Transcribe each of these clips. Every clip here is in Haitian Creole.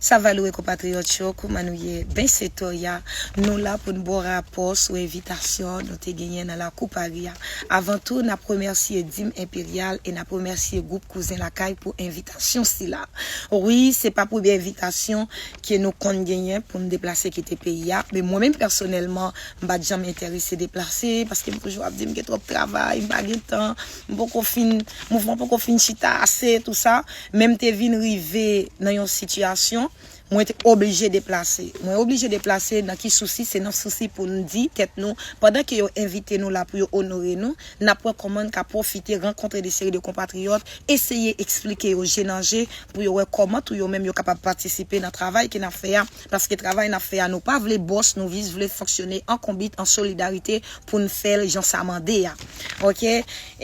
Savalue konpatriyòt yo, kouman nou ye? Ben se Toya, nou la pou n ba w rapò sou envitasyon nou te genyen nan lakou Pari a. Avan tou, n ap remèsye Dim Enperyal e n ap remèsye Gwoup Kouzen Lakay pou envitasyon sila. Wi, se pa premye envitasyon ke nou konn genyen pou n deplase kite peyi a, men mwen menm pèsonèlman, m pa t janm enterese deplase, paske m toujou ap di m gen twòp travay, m pa gen tan. m poko fin, mouvman poko fin chita ase tou sa, men m te vin rive nan yon sitiyasyon mwen te oblije deplase. Mwen oblije deplase nan ki sousi, se nan sousi pou n di tèt nou, pandan ke yo envite nou la pou yo onore nou, n ap wè kòman n ka pwofite rankontre de seri de konpatriyòt, eseye eksplike yo je nan je pou yo wè kòman tou yo menm yo kapab patisipe nan travay ke n ap fè a. Paske travay nap fè a nou pa vle bòs nou jis vle fonksyone an konbit an solidarite poun fèl jan sa mande a ok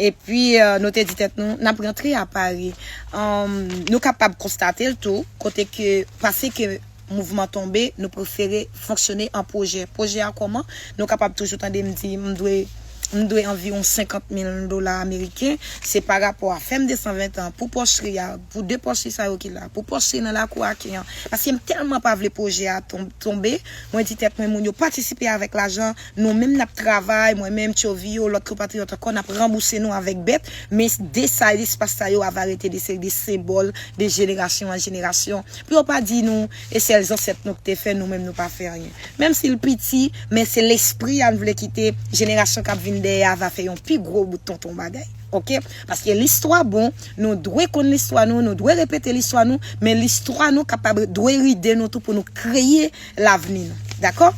epi nou te di tèt nou nap rantre a Pari nou kapab konstatel tou kote ke pase ke mouvman tonbe nou prefere fonksyone an pwojè pwojè a kòman nou kapab toujou tandem di m dwe m dwe anviwon 50 mil dola ameriken, se pa rapò a fèm 220 tan pou pòchri a, pou 2 pòchri sa yo ki la, pou pòchri nan lakou Aken an, paske m tèlman pa vle pwojè a tonbe, mwen di tèt mwen moun yo patisipe avèk lajan, nou menm n ap travay, mwen menm, Tchovi yo, lòt konpatriyòt ankò, n ap ranbouse nou avèk bèt, men de sa espas sa yo ava rete de seri de senbòl de jenerasyon an jenerasyon, pou yo pa di nou. E sèl zansèt nou k te fè, nou menm nou pa fè anyen. Menm si l piti, men se lespri a n vle kite jenerasyon k ap vin dèyè a va fè yon pi gwo bout tonton bagay. Ok. Paske listwa bon, nou dwe konn listwa nou, nou dwe repete listwa nou, men listwa nou kapab dwe ride nou tou pou nou kreye lavni nou. Dakò?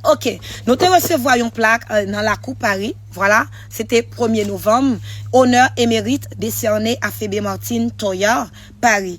Ok. Nou te resevwa yon plak nan lakou Pari. Vwala. Se te premye novanm. Onè emerit desène a Febe Martine Toyar, Pari.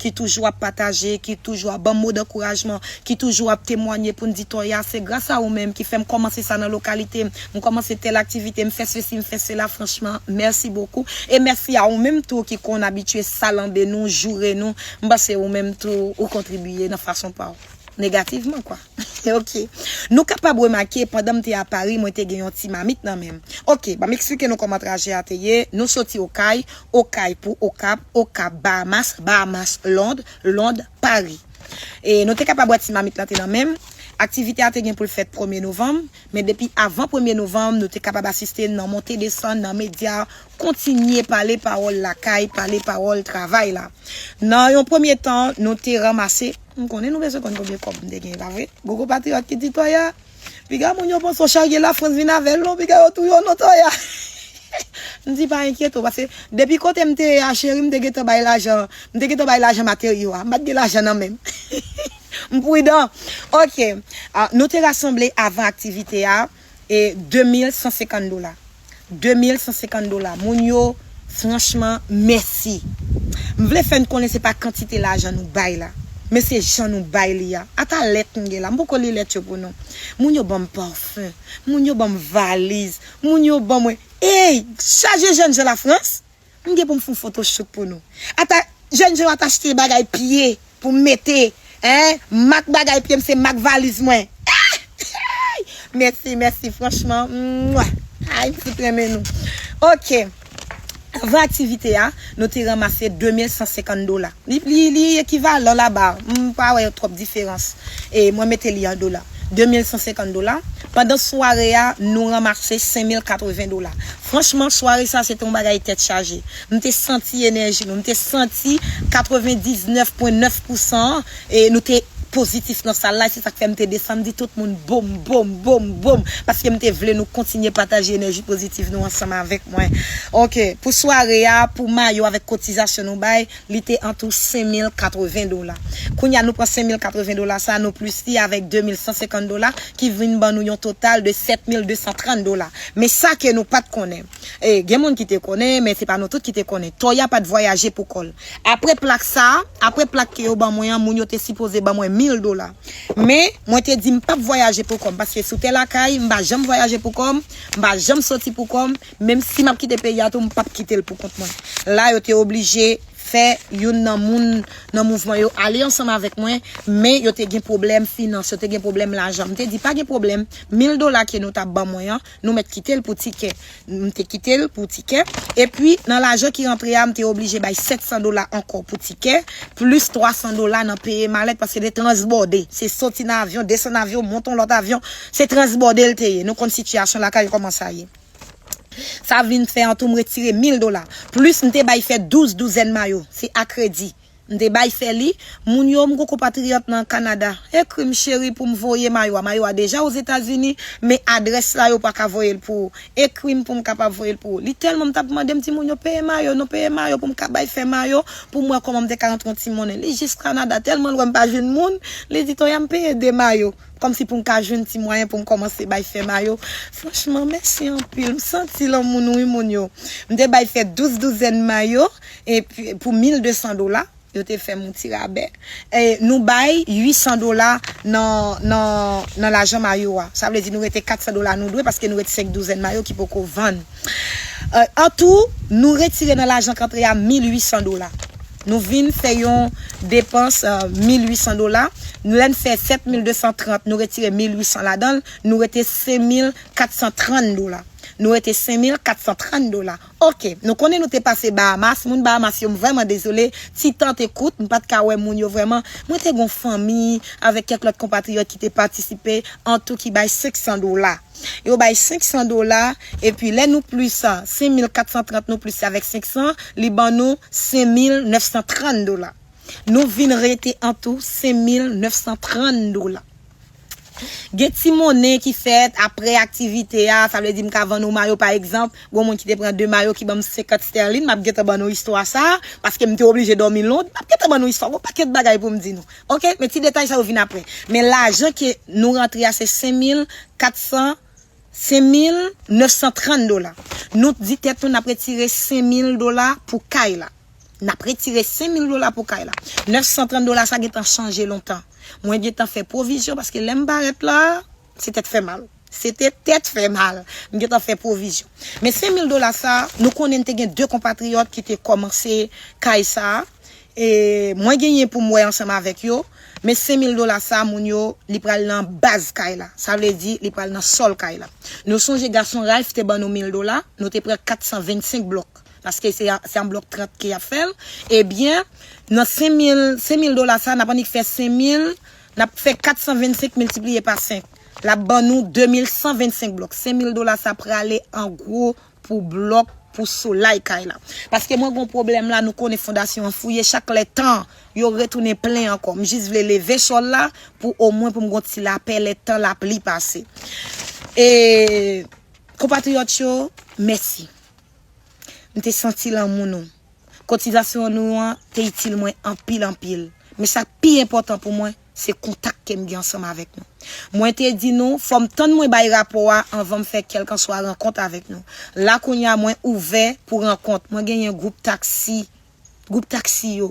ki toujou ap pataje, ki toujou ap banm mo dankourajman, ki toujou ap temwanye poun di Toya se gras a ou menm ki fèm kòmanse sa nan lokalitem, m kòmanse tèl aktivite, m fè sesi m fè sela franchman mèsi bokou e mèsi a ou menm tou ki konn abitye salanbe nou, joure nou, m panse ou menm tou ou kontribiye nan fason paw. Negativman kwa. Ok. Nou kapab remake, pandan m te a Pari, mwen te gen yon ti mamit nan men m. Ok, banm eksplike nou kòman trajè a te ye, nou soti Okay, Okay pou Okap, Okap, Bahamas, Bahamas, Lond, Lond, Pari. E nou te kapab wè ti mamit lan te nan men m. Aktivite a te gen pou l fèt premye novanm, men depi avan premye novanm, nou te kapab asiste nan monte desann nan medya, kontinye pale pawòl lakay, pale pawòl travay la. Nan yon premye tan, nou te ranmase. M konnen nou bezwen konn konbyen kòb m te genyen pa vre? Gogo patriyòt ki di Toya, Piga moun yo panse w charye Lafrans vin avè l non piga yo touye w non Toya. M di pa enkyete w paske depi kote m te ye a cheri m te gentan bay lajan m te gentan bay lajan materyo a m pa t gen lajan nan men m. M pridan. Ok, nou te rasanble avan aktivite a. e 2150 dola 2150 dola moun yo franchman mèsi m vle fè n konnen se pa kantite lajan nou bay la men se jan nou bay li a ata lèt m gen la m poko li lèt yo pou nou moun yo banm parfum moun yo banm valiz moun yo ban mwen eyy chaje jènjan lafrans. M gen poum fon foto shoot pou nou. Ata jèn je yo ata achte bagay pye poum mete hein mak bagay pyem se mak valiz mwen eehh mesi mesi franchman mwah ayy m fout renmen nou ok avan aktivite a nou te ranmase 2150 dola li ekivalan la ba m pa wè twòp diferans e mwen mete li an dola 2150 dola pandan sware a nou ranmase 5080 dola Franchman sware sa se te yon bagay tèt chaje. M te santi enèji nou, m te santi 99 pwen 9 pousan an e nou te pozitif nan sal la e se sak fè m te desann m di tout moun boom boom boom boom paske m te vle nou kontinye pataje enèji pozitif nou ansanm avèk mwen ok pou sware a pou mayo avèk kotizasyon nou bay. Li te an tou 5,080 dola. Kounye a nou pran 5,080 dola sa a nou plis li avèk 2,150 dola ki vin ban nou yon total de 7,230 dola. Men sa ke nou pat konnen. E, gen moun ki te konnen, men se pa nou tout ki te konnen. Tòy a pat vwayaje pou kò l. Apre plak sa a, apre plak ke yo ban mwen an, moun yo te sipoze ban mwen 1,000 dola. Men, mwen te di m pap vwayaje pou kò m paske sou tè lakay, m pa janm vwayaje pou kò m, m pa janm soti pou kò m, Menm si map kite peyi a tou m pap kitel pou kont mwen. La yo te oblije fè youn nan moun nan mouvman yo ale ansanm avèk mwen men yo te gen pwoblèm finans, yo te gen pwoblèm lajan. M te di pa gen pwoblèm, mil dola ke nou ta ban mwen an, nou mèt kitel pou tikè. M te kitel pou tikè. Epi nan lajan ki rantre a m te oblije bay 700 dola ankò pou tikè, plis 300 dola nan peye malèt paske se te transbòde. Se soti nan avyon, desann avyon, monte yon lòt avyon. Se transbòde l te ye. Nou konn sitiyasyon lakay yo kòman sa ye. Sa vin fè antou m retire mil dola, plis m te bay fè douz douzèn mayo, se a kredi, m te bay fè li, moun yo, m gon konpatriyòt nan Kanada, ekri m cheri pou m voye mayo a, mayo a deja Ozetazini, men adrès la yo pa ka voye l pou ou, ekri m pou m kapab voye l pou ou. Li tèlman m t ap mande, m di moun yo peye mayo non, peye mayo pou m ka bay fè mayo, pou m wè kòman m te ka antre yon ti monnen. Li jis Kanada, tèlman l wè m pa jwenn moun, li di Toya m peye de mayo. Kòmsi pou m ka jwenn ti mwayen pou m kòmanse bay fè mayo. Franchman, mèsi anpil. M santi lanmou nou wi moun yo. M te bay fè 12 douzèn mayo epi pou 1200 dola. Yo te fè m yon ti rabè. E nou bay 800 dola nan nan lajan mayo a. Sa vle di nou rete 400 dola nou dwe paske nou ret 5 douzèn mayo ki poko vann. Antou, nou retire nan lajan k antre a 1800 dola. Nou vin fè yon depans 1800 dola. Lè n fè 7230, nou retire 1800 ladan l, nou rete 5430 dola. Nou rete 5430 dola. Ok, nou konnen nou te pase Bahamas. Moun Bahamas yo, m vrèman dezole. Ti tan te kout, m pa t ka wè moun yo vrèman. Mwen te gen yon fanmi avèk kèk lòt konpatriyòt ki te patisipe, antou ki bay 500 dola. yo bay 500 dola epi lè nou plis 5430 nou plis li avèk 500 li ban nou 5930 dola nou vin rete an tou 5930 dola gen ti monnen ki fèt aprè aktivite a sa vle di m ka vann ou mayo pa egzanp gon moun ki te pran 2 mayo ki ban m 50 stèlin m ap gentan ban nou istwa sa paske m te oblije dòmi lond m ap gentan ban nou istwa gon pakèt bagay pou m di nou Ok men ti detay sa yo vin aprè. Men lajan ke nou rantre a se 5400 5930 dola. Nou t di tèt nou nap retire 5000 dola pou kay la. Nap retire 5000 dola pou kay la. 930 dola sa gentan chanje lontan. Mwen gentan fè pwovizyon paske lèm parèt la. Se tèt fè mal. Se te tèt fè mal. M gentan fè pwovizyon. Men 5 mil dola sa, nou konnen n te gen 2 konpatriyòt ki te kòmanse kay sa. E mwen genyen pou m wè ansanm avèk yo. Men 5 mil dola sa, moun yo, li pral nan baz kay la. Sa vle di, li pral nan sòl kay la. Nou sonje gason Ralph te ban nou mil dola. Nou te pran 425 blòk. Paske se an blòk 30 ke y ap fè l. Ebyen, nan 5 mil, 5 mil dola sa, n ap annik fè 5 mil. N ap fè 425 miltipliye pa 5, l ap ban nou 2125 blòk. 5 mil dola sa prale an gwo pou blòk pou solay kay la. Paske mwen gen yon pwoblèm la, nou konnen fondasyon an fouye chak lè tan, yo retounen plen ankò. M jis vle leve chòl la pou omwen pou m gen yon ti lapè lè tan lapli pase. E Konpatriyòt yo, mèsi. M te santi lanmou nou. Kotizasyon nou an te itil mwen anpil anpil, men sa k pi enpòtan pou mwen, se kontak ke m gen ansanm avèk nou. Mwen te di nou, fò m tann mwen bay rapò a anvan m fè kèlkanswa rankont avèk nou. La kounye a mwen ouvè pou rankont, mwen genyen gwoup taksi, gwoup taksi yo,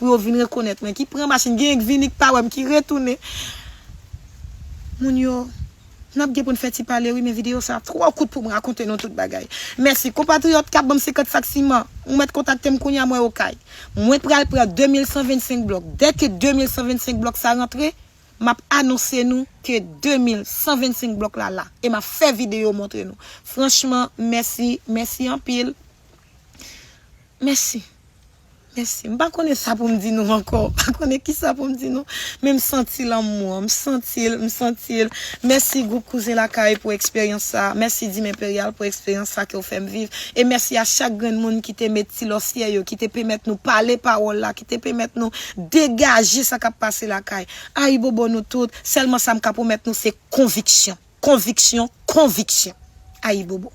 Pou yo vin rekonèt mwen ki pran machin genyen k vini k pa wèm ki retounen moun yo nap gen poun fè ti pale wi men video sa twò kout poum rakonte nou tout bagay mèsi konpatriyòt kap banm 50 sak siman ou mèt kontaktem kounya mwen okay mwen pral pran 2125 blòk dèke 2125 blòk sa rantre map anonse nou ke 2125 blòk la la e map fè video montre nou franchman mèsi mèsi anpil mèsi. Mèsi. M pa konnen sa pou m di nou ankò. M pa konnen kisa pou m di nou. Men m santi lanmou an. M santi l, m santi l. Mèsi gwoup Kouzen Lakay pou eksperyans sa a. Mèsi Dim Enperyal pou eksperyans sa ke w fè m viv. E mèsi a chak grenn moun ki te met ti lòsyè yo, ki te pemèt nou pale pawòl la, ki te pemèt nou degaje sa k ap pase lakay. Ayibobo nou tout. Sèlman sa m ka pwomèt nou se konviksyon, konviksyon, konviksyon. Ayibobo.